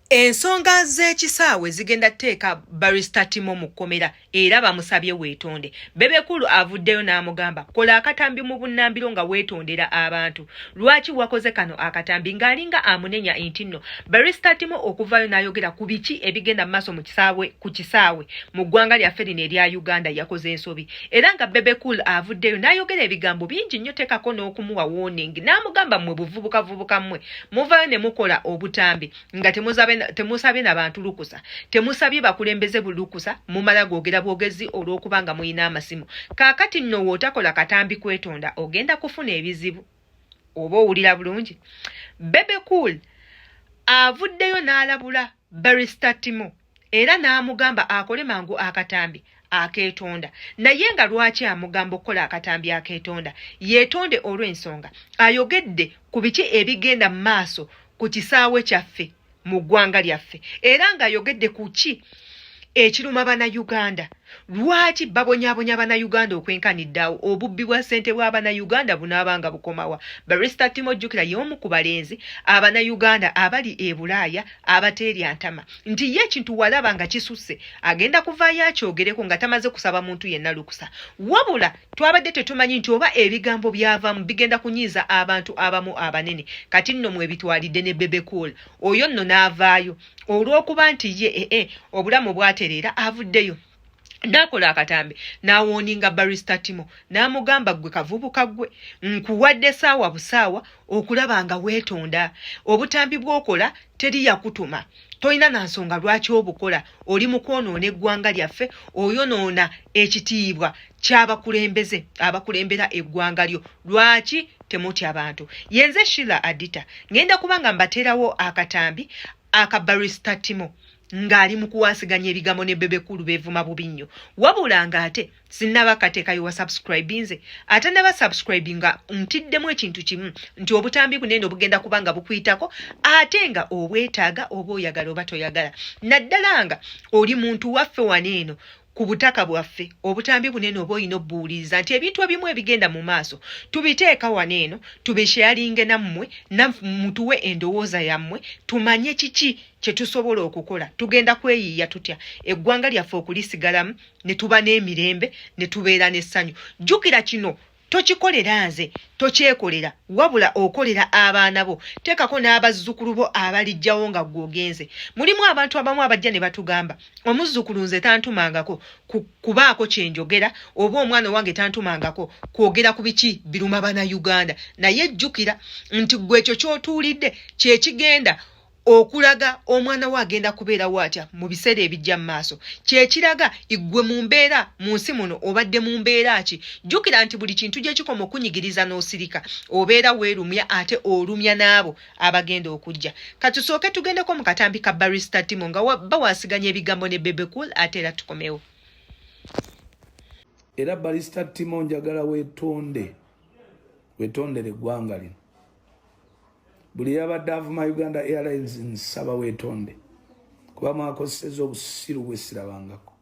Ensonga z'ekisaawe zigenda teeka barista Timo mu kkomera era bamusabye weetonde. Bebekulu avuddeyo n'amugamba kola akatambi mu bunnambiro nga weetondera abantu. Lwaki wakoze kano akatambi ng'alinga amunenya entinno. Barista Timo okuvaayo n'ayogera ku biki ebigenda mu maaso mu kisaawe ku kisaawe mu ggwanga lyaffe lino erya Uganda yakoze ensobi era nga Bebekul avuddeyo n'ayogera ebigambo bingi nnyo teekako n'okumuwa warning n'amugamba mmwe buvubukavubuka mmwe muvayo ne mukola obutambi nga temusabye na bantu lukusa temusabye bakulembeze bulukusa mumala gwogera bwogezi olw'okuba nga mulina amasimu kaakati nno wootakola katambi kwetonda ogenda kufuna ebizibu oba owulira bulungi bebe cool avuddeyo n'alabula barista timo era n'amugamba akole mangu akatambi akeetonda naye nga lwaki amugamba okukola akatambi akeetonda yeetonde olw'ensonga ayogedde ku biki ebigenda mu maaso ku kisaawe kyaffe mu ggwanga lyaffe era ng'ayogedde ku ki ekiruma banayuganda lwaki babonyabonya banayuganda okwenkaniddaawo obubbi bwa ssente bwa banayuganda bunaaba nga bukomawa barista timo jjukira y'omu ku balenzi abanayuganda abali e bulaaya abateerya ntama nti ye ekintu walaba nga kisusse agenda kuvaayo akyogereko nga tamaze kusaba muntu yenna lukusa wabula twabadde tetumanyi nti oba ebigambo byavamu bigenda kunyiiza abantu abamu abanene kati nno mwebitwalidde ne bebecool oyo nno n'avaayo olw'okuba nti ye ee eh, eh, obulamu bwatereera avuddeyo nakola akatambi nawoninga barista timo namugamba gwe kavubuka gwe nkuwadde saawa busaawa okulaba nga wetonda obutambi bwokola teri yakutuma tolina na nsonga lwaki obukola oli mukwonoona eggwanga lyaffe oyonoona ekitiibwa kyabakulembeze abakulembera eggwanga lyo lwaki temutya bantu yenze shila adita ngenda kuba nga mbateerawo akatambi akabarista timo ng'ali mu kuwasiganya ebigambo ne bebe kulu beevuma bubi nnyo wabula ng'ate sinnaba kateekayo wa subscribinze ate naba subscribi nga ntiddemu ekintu kimu nti obutambi buno eno bugenda kuba nga bukuyitako ate nga obwetaaga oba oyagala oba toyagala naddala nga oli muntu waffe wano eno ku butaka bwaffe obutambi bunene oba olina obuwuliriza nti ebintu ebimu ebigenda mu maaso tubiteeka wano eno tubisheyalinge nammwe namutuwe endowooza yammwe tumanye kiki kye tusobola okukola tugenda kweyiiya tutya eggwanga lyaffe okulisigalamu ne tuba n'emirembe ne tubeera n'essanyu jjukira kino tokikolera nze tokyekolera wabula okolera abaana bo teekako n'abazzukulu bo abalijjawo nga gwe ogenze mulimu abantu abamu abajja ne batugamba omuzzukulu nze tantumangako kubaako kye njogera oba omwana owange tantumangako kwogera ku biki biruma bana uganda naye jjukira nti gwe ekyo ky'otuulidde kye kigenda okulaga omwana we agenda kubeerawo atya mu biseera ebijja mu maaso kyekiraga iggwe mu mbeera mu nsi muno obadde mu mbeera ki jjukira nti buli kintu gye kikoma okunyigiriza n'osirika obeera weerumya ate olumya n'abo abagenda okujja katusooke tugendeko mu katambi ka barista timo nga bawasiganya ebigambo ne bebecool ate era tukomewo era barista timo njagala wetonde wetondere eggwanga lino buli yabadde avuma uganda airlines nsaba wetonde kuba mwakozeseza obusiru bwesirabangako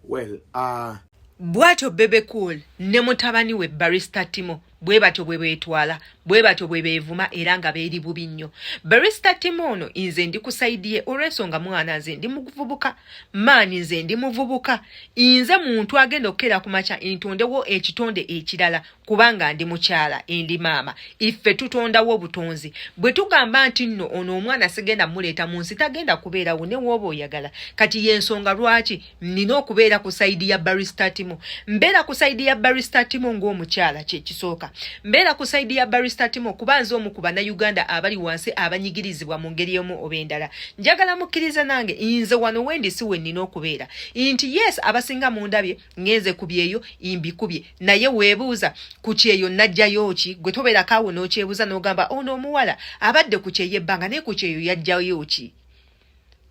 well, uh... bwatyo bebe cool ne mutabani we barista timo bwe batyo bwe beetwala bwe batyo bwe beevuma era nga beeri bubi nnyo barista timo ono nze ndi ku saidi ye olw'ensonga mwana nze ndi mukuvubuka maanyi nze ndi muvubuka inze muntu agenda okukeera ku makya ntondewo ekitonde ekirala kubanga ndi mukyala endi maama iffe tutondawo obutonzi bwe tugamba nti nno ono omwana sigenda muleeta mu nsi tagenda kubeerawo ne wooba oyagala kati y'ensonga lwaki nina okubeera ku sayidi ya baristatimo mbeera ku sayidi ya baristatimo ng'omukyala kyekisooka mbeera ku sayidi ya baristatimo kuba nze omu ku bannayuganda abali wansi abanyigirizibwa mu ngeri emu oba endala njagala mukkiriza nange nze wano wendi si wennina okubeera nti yes abasinga mundabye ngenze ku byeyo imbikubye naye weebuuza ku kyeyo najjayo ki gwe tobeerako awo n'okyebuuza n'ogamba ono oh, omuwala abadde ku kyeyo ebbanga naye ku kyeyo yajjayo ki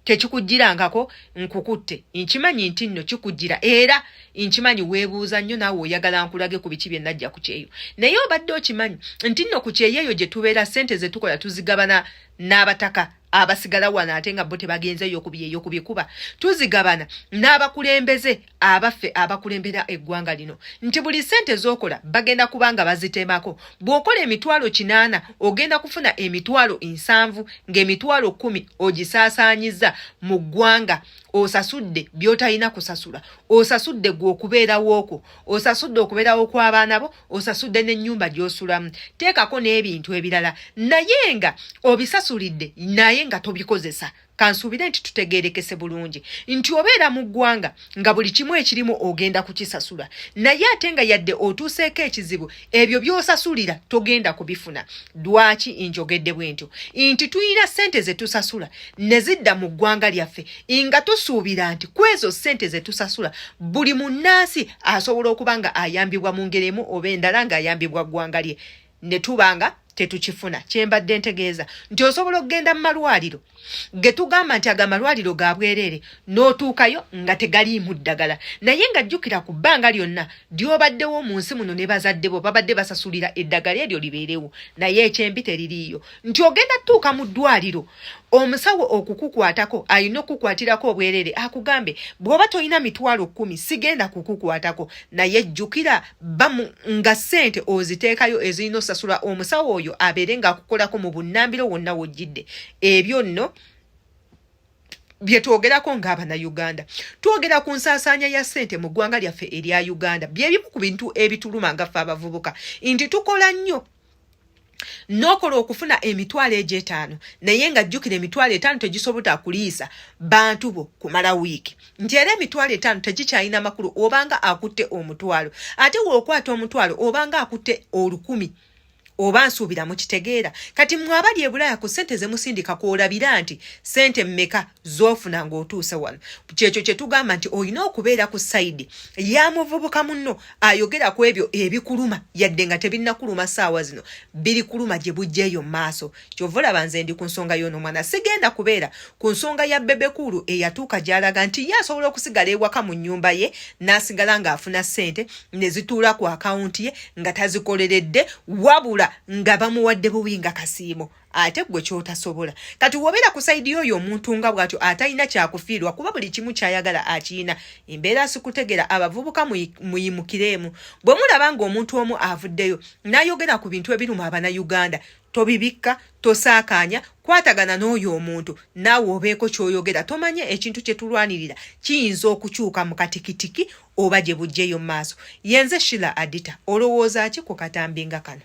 tekikujjirangako nkukutte nkimanyi nti nno kikujjira era nkimanyi weebuuza nnyo naawe oyagala nkulage ku biki bye najja ku kyeyo naye obadde okimanyi nti nno ku kyeyo eyo gye tubeera ssente ze tukola tuzigabana n'abataka abasigala wano ate nga bo tebagenze yokubi eyokubi kuba tuzigabana n'abakulembeze abaffe abakulembera eggwanga lino nti buli sente zokola bagenda kubanga bazitemako bw'okola emitwalo kinaana ogenda kufuna emitwalo nsanvu ng'emitwalo kumi ogisaasaanyiza mu ggwanga osasudde by'otalina kusasula osasudde gwe okubeerawookwo osasudde okubeerawo kw'abaana bo osasudde n'ennyumba gy'osulamu teekako n'ebintu ebirala naye nga obisasulidde naye nga tobikozesa kansuubire nti tutegeerekese bulungi nti obeera mu ggwanga nga buli kimu ekirimu ogenda kukisasula naye ate nga yadde otuuseeko ekizibu ebyo byosasulira togenda kubifuna dwaki injogedde bwentyo nti tulina sente zetusasula nezidda mu ggwanga lyaffe nga tusuubira nti kwezo sente zetusasula buli munnansi asobola okuba nga ayambibwa mu ngeri emu oba endala ngaayambibwa ggwanga lye netubanga tetukifuna kyembadde ntegeeza nti osobola okugenda mu malwaliro getugamba nti ago amalwaliro ga bwereere n'otuukayo nga tegaliimu ddagala naye nga jjukira ku bbanga lyonna lyobaddewo mu nsi muno ne bazadde bo babadde basasulira eddagala eryo libeerewo naye ekyembi teririiyo nti ogenda tutuuka mu ddwaliro omusawo okukukwatako alina okukukwatirako obwereere akugambe bw'oba tolina mitwalo kkumi sigenda kukukwatako naye jjukira bamu nga sente oziteekayo ezirina osasula omusawo oyo abeere ngaakukolako mu bunnambiro wonna wojjidde ebyo nno byetwogerako ngaabanayuganda twogera ku nsaasaanya ya sente mu ggwanga lyaffe erya uganda byebimu ku bintu ebituluma nga ffe abavubuka nti tukola nnyo nokola okufuna emitwalo egyo etaano naye nga jjukira emitwalo etaano tegisobota kuliisa bantu bo kumala wiiki nti era emitwalo etaano tegikyalina makulu obanga akutte omutwalo ate wookwata omutwalo obanga akutte olukumi oba nsuubira mukitegeera kati mwe abali ebulaya ku ssente zemusindika kwolabira nti ssente mmeka zofuna ng'otuuse wano kyekyo kye tugamba nti olina okubeera ku sayidi ya muvubuka munno ayogera ku ebyo ebikuluma yadde nga tebinnakuluma saawa zino biri kuluma gye bujja eyo mu maaso kyova olaba nze ndi ku nsonga y'ono omwana sigenda kubeera ku nsonga ya bebekuulu eyatuuka gy'alaga nti ye asobola okusigala ewaka mu nnyumba ye n'asigala ng'afuna ssente ne zituula ku akawunti ye nga tazikoleredde wabula nga bamuwadde buwi nga kasiimo ate gwe kyotasobola kati wobera ku saidi yoyo omuntu nga bwatyo atalina kyakufiirwa kuba buli kimu kyayagala akiyina embeera sikutegera abavubuka muyimukireemu bwe mulaba nga omuntu omu avuddeyo nayogera ku bintu ebiruma abana uganda tobibikka tosaakaanya kwatagana n'oyo omuntu naawe obeeko kyoyogera tomanye ekintu kye tulwanirira kiyinza okukyuka mu katikitiki oba gye bujjeyo mu maaso yenze shila adita olowooza ki ku katambi nga kano